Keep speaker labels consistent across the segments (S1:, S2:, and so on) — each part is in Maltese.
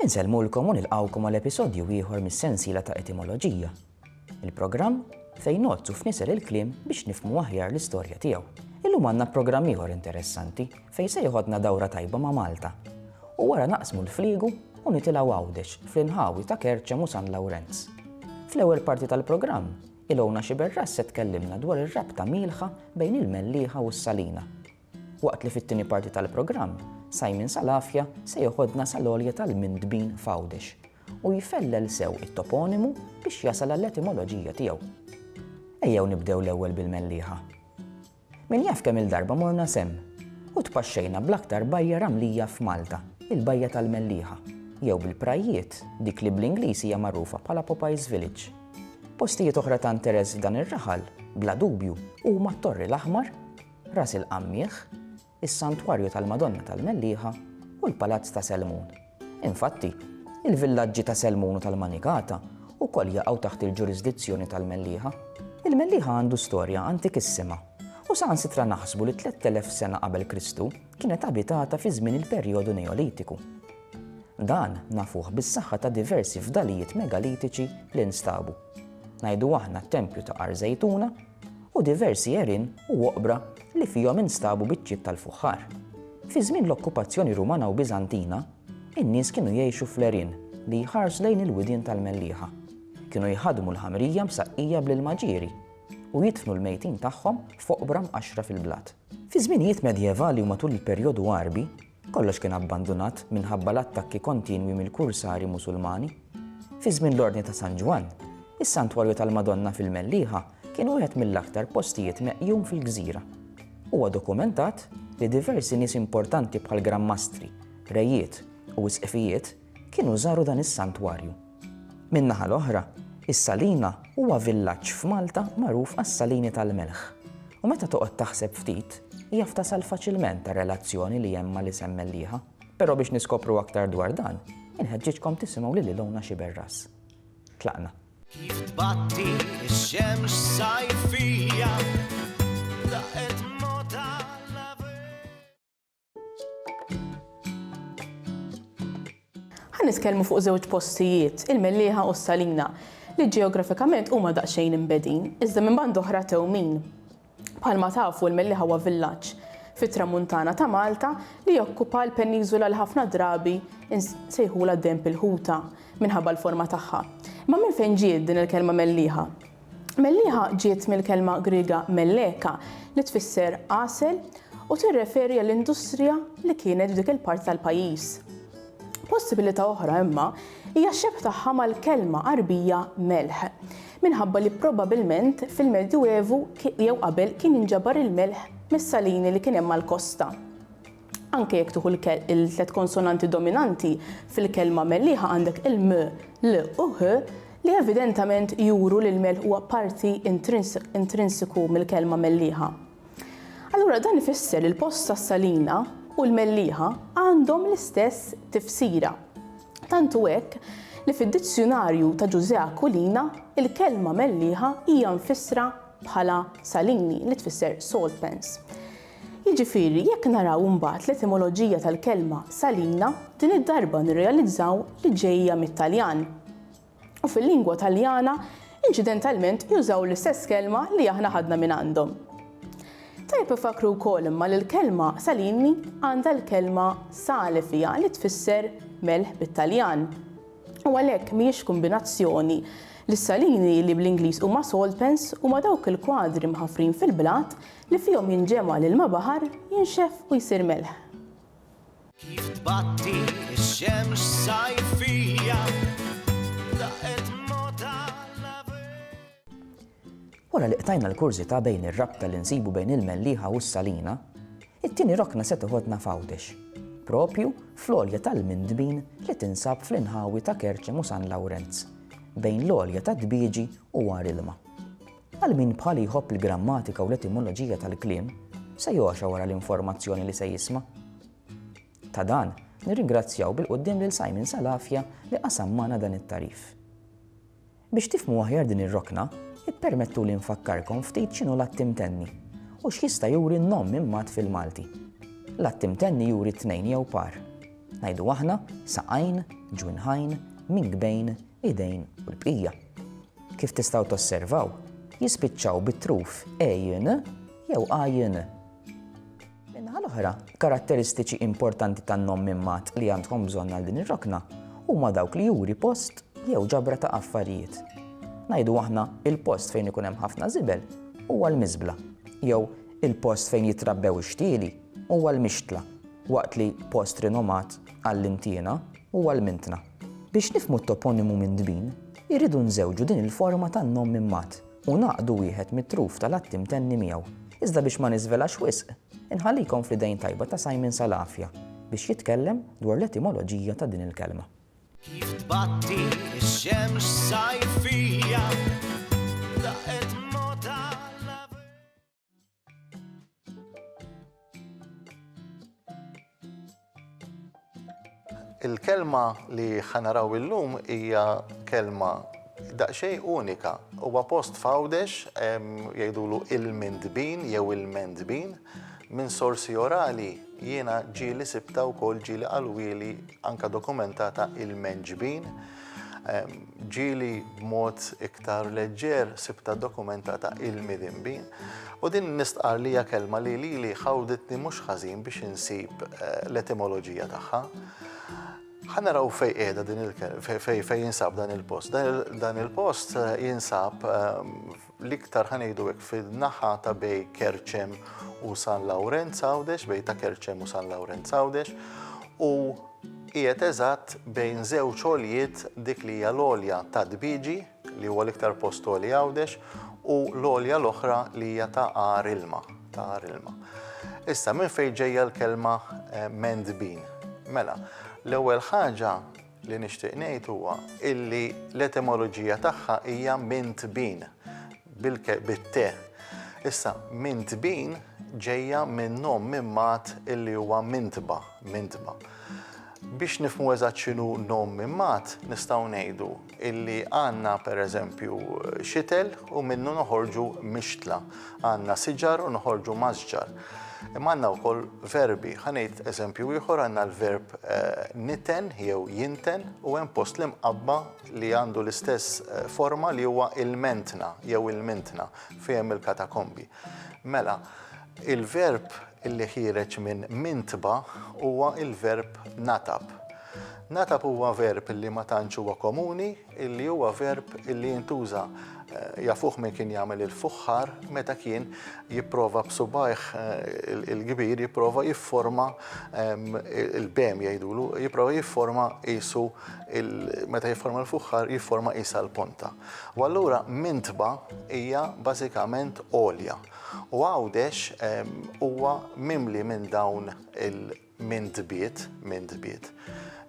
S1: Insellmulkom u nilqgħukom għal episodju ieħor mis-sensiela ta' Etimoloġija, il-programm fejn ngħoddsu f'nisel il-kliem biex nifhmu aħjar l-istorja tiegħu. Illum għandna programm ieħor interessanti fejn se jeħodna dawra tajba ma' Malta u wara naqsmu l-fliegu u nitilgħu Għawdex fl-inħawi ta' Kerċem u San Lawrenz. Fl-ewwel parti tal-programm, Ilona Sciberras se tkellimna dwar ir-rabta mielħa bejn il-Mellieħa u s-Salina. Waqt li fit-tieni parti tal-programm, Simon Salafia se jeħodna sal-għolja tal-Mindbin f'Għawdex u jfellel sew it-toponimu biex jasal għall-etimoloġija tiegħu. Ejjew nibdew l-ewwel bil-Mellieħa. Min jaf kemm-il darba morna s'hemm u tpaxxejna bl-aktar bajja ramlija f'Malta, il-Bajja tal-Mellieħa, jew bil-prajjiet, dik li bl-Ingliż hija magħrufa bħala Popeye's Village. Postijiet oħra ta' interess f'dan ir-raħal, bla dubju, huma t-Torri l-Aħmar, Ras il-Qammieħ, is-Santwarju tal-Madonna tal-Mellieħa u l-Palazz ta' Selmun. Infatti, il-villaġġi ta' Selmun u tal-Manikata wkoll jaqgħu taħt il-ġurisdizzjoni tal-Mellieħa. Il-Mellieħa għandu storja antikissima u saħansitra naħsbu li 3000 sena qabel Kristu kienet abitata fi żmien il-perjodu Neolitiku. Dan nafuh bis-saħħa ta' diversi fdalijiet megalitiċi li nstabu. Ngħidu aħna t-tempju ta' Għar Żejtuna u diversi għerien u oqbra li fihom instabu biċċiet tal-fuħħar. Fi żmien l-okkupazzjoni Rumana u Biżantina, in-nies kienu jgħixu fl-għerien li jħarsu lejn il-widien tal-Mellieħa. Kienu jħaddmu l-ħamrija msaqqija bl-ilma ġieri u jidfnu l-mejtin tagħhom f'oqbra mqaxxra fil-blat. Fiż-żminijiet medjevali u matul il-perjodu Għarbi, kollox kien abbandunat minħabba l-attakki kontinwi mill-kursari Musulmani. Fi żmien l-Ordni ta' San Ġwann, is-Santwarju tal-Madonna fil-Mellieħa kien wieħed mill-aktar postijiet meqjum fil-gżira. Huwa dokumentat li diversi nies importanti bħal Gran Mastri, Rejiet u Isqfijiet kienu żaru dan is-Santwarju. Min-naħa l-oħra, is-Salina huwa villaġġ f'Malta magħruf għas-salini tal-melħ. U meta toqgħod taħseb ftit, jaf tasal faċilment għar-relazzjoni li hemm mal-isem Mellieħa. Però biex niskopru aktar dwar dan, inħeġġiġkom tisimgħu lil Ilona Sciberras. Tlaqna. Kif
S2: tbatti x-xemx sajfija
S3: Ħa niskellmu fuq żewġ postijiet, il-Mellieħa u s-Salina, li ġeografikament huma daqsxejn imbedin, iżda minn band oħra tewmin. Bħalma tafu l-Mellieħa huwa villaġġ fit-tramuntana ta' Malta li jokkupa l-peniżola li ħafna drabi sejħula demp il-ħuta minħabba l-forma tagħha. Ma minn fejn ġiet din il-kelma Mellieħa? Mellieħa ġiet mill-kelma Griega melleka li tfisser għasel u tirreferi għall-industrija li kienet f'dik il-parti tal-pajjiż. Possibilità oħra imma hija x-xebh tagħha mal-kelma Għarbija melħ, minħabba li probabilment fil-Medjuevu jew qabel kien jinġabar il-melħ mis-salini li kien hemm mal-kosta. Anke jekk tieħu l-tliet konsonanti dominanti fil-kelma mellieħa għandek il-m, l u h li evidentament juru li l-melħ huwa parti intrinsiku mill-kelma mellieħa. Allura dan ifisser li l-post tas-salina u l-mellieħa għandhom l-istess tifsira. Tant hu hekk li fid-dizzjunarju ta' Ġużè Aquilina il-kelma mellieħa hija mfissra bħala salini li tfisser salt pans. Jiġifieri, jekk naraw imbagħad l-etimoloġija tal-kelma salina, din id-darba nirrealizzaw li ġejja mit-Taljan. U fil-lingwa Taljana, inċidentalment jużaw l-istess kelma li aħna ħadna mingħandhom. Tajjeb infakkru wkoll imma li l-kelma salini għandha l-kelma sale fiha li tfisser melħ bit-Taljan. U għalhekk mhijiex kombinazzjoni li s-salini li bl-Ingliż huma salt pans huma dawk il-kwadri mħaffrin fil-blat Li fihom jinġema' l-ilma baħar, jinxef u jsir melħ. Kif
S2: tbatti x-xemx sajfija, daqqet mota
S1: Wara li qtajna l-kurżità bejn ir-rabta li nsibu bejn il-Mellieħa u s-Salina, it-tieni rokna se tiħodna f'Għawdex, proprju fl-għolja tal-Mindbin li tinsab fl-inħawi ta' Kerċem u San Lawrenz, bejn l-għolja tad-Dbieġi u Għar Ilma. Għal min bħali jħobb il-grammatika u l-etimoloġija tal-kliem, se jogħxa wara l-informazzjoni li se jisma'. Ta' dan, nirringrazzjaw bil-quddiem lil Simon Salafja li qasam magħna dan it-tagħrif. Biex tifhmu aħjar din ir-rokna, ippermettuli nfakkarkom ftit x'inhu l-att imtenni u x'jista' juri n-nom minn mat fil-Malti. L-att imtenni juri tnejn jew par. Ngħidu aħna saqajn, ġwinħajn, mingbejn, idejn u l-bqija. Kif tistgħu tosservaw, jispiċċaw bit-truf ejn jew ajn. Min-naħa l-oħra, karatteristiċi importanti tan-nom minn mat li għandkom bżonn għal din ir-rokna huma dawk li juri post jew ġabra ta' affarijiet. Ngħidu aħna il-post fejn ikun hemm ħafna żibel huwa l-miżbla jew il-post fejn jitrabbew ix-xtieli huwa l-mixtla waqt li post rinomat għall-intiena huwa l-mintna. Biex nifhmu t-toponimu minn Dbin, irridu nżewġu din il-forma tan-nom minn Mat u ngħaqqdu wieħed mit-truf tal-atti mtenni miegħu. Iżda biex ma niżvelax wisq, inħallikom fl-idejn tajba ta' Simon Salafia biex jitkellem dwar l-etimoloġija ta' din il-kelma. Kif
S2: tbatti x-xemx sajfija, daqqet
S4: Il-kelma li ħanaraw illum hija kelma daqsxejn unika. Huwa post f'Għawdex jgħidulu il-Mindbin jew il-Mendbin. Minn sorsi orali jiena ġieli sibta wkoll ġieli qalwieli anke dokumentata il-Menġbin. Ġieli b'mod iktar leġġer sibtha dokumentata ilmi dhenbi, u din nistqarr li hija kelma li lili ħawditni mhux ħażin biex insib l-etimoloġija tagħha. Ħa naraw fejn qiegħda din fejn jinsab dan il-post. Dan il-post jinsab l-iktar ħa ngħidu hekk fin-naħa ta' bej Kerċem u San Lawrenz Għawdex, bej ta' Kerċem u San Lawrenz Għawdex, u qiegħed eżatt bejn żewġ għoljiet dik li hija l-għolja ta' Dbiġi, li huwa l-iktar post għoli Għawdex, u l-għolja l-oħra li hija ta' Għar Ilma, ta' Għar Ilma. Issa minn fejn ġejja l-kelma eh, Mendbin? Mela, l-ewwel ħaġa Li nixtieq ngħid huwa illi l-etimoloġija tagħha hija minn tbin bit-te. Issa minn tbin ġejja minn nom minn mat illi huwa mintba, mintba. Biex nifmu eżatt x'inhu nom minn mat, nistgħu ngħidu illi għandna pereżempju xitel u minnu noħorġu mixtla. Għandna siġar u noħorġu mażġar. Imma għandna wkoll verbi. Ħa ngħid eżempju ieħor għandna l-verb niten jew jinten u hemm post l-imqabba li għandu l-istess forma li huwa il-mentna jew il-mintna fejn il-katakombi. Mela, il-verb li ħireġ minn mintba huwa il-verb natab. Natab huwa verb li ma tantx huwa komuni li huwa verb li jintuża jafuh min kien jagħmel il-fuħħar meta kien jipprova b'subajh eh, il-kbir jipprova jifforma il-bem jgħidulu, jipprova jifforma isu meta jifforma l-fuħħar jifforma isa l-ponta. U allura mintba hija bażikament olja. U għawdex huwa mimli minn dawn il- Min tbiet, min tbiet.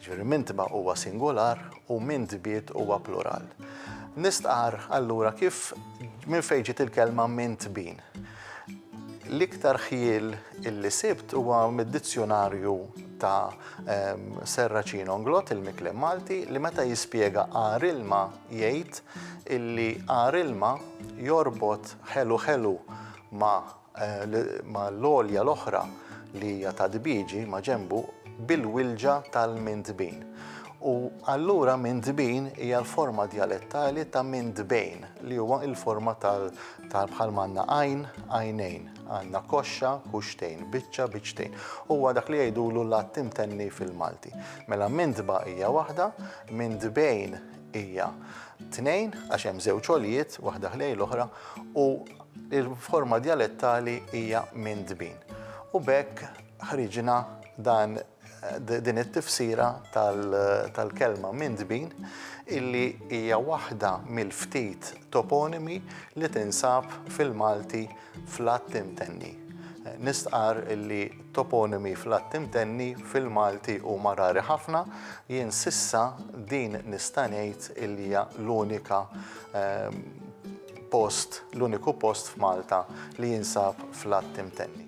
S4: Ġifieri min tba' huwa singular u min tbiet huwa plural. Nistqar allura kif minn fejn ġiet il-kelma min tbin. L-iktar ħjiel illi sibt huwa mid-dizzjunarju ta' Serracin Onglot, il-Miklem Malti, li meta jispjega għar ilma jgħid illi għar ilma jorbot ħelu ħelu ma' ma' l-għolja l-oħra li hija ta' Dbiġi ma' ġenbu bil-Wilġa tal-Mintbin. U allura Mintbin hija l-forma djalettali ta' Mintbejn li huwa l-forma tal bħal ma għandna għajn, għajnejn, għandna koxxa, kuxxtejn, biċċa, biċċtejn. Huwa dak li jgħidulu l-għadd imtenni fil-Malti. Mela Mintba hija waħda, Mintbejn hija tnejn għax hemm żewġ għoljiet, waħda ħlejn l-oħra, u l-forma djalettali hija minn dbin. U b'hekk ħriġna dan din it-tifsira tal-kelma minn dbin illi hija waħda mill-ftit toponimi li tinsab fil-Malti fl-att imtenni. Nistqarr li t-toponimi fl-att imtenni fil-Malti huma rari ħafna, jien s'issa din nista' ngħid li hija l-unika ehm, post, l-uniku post f'Malta li jinsab fl-att imtenni.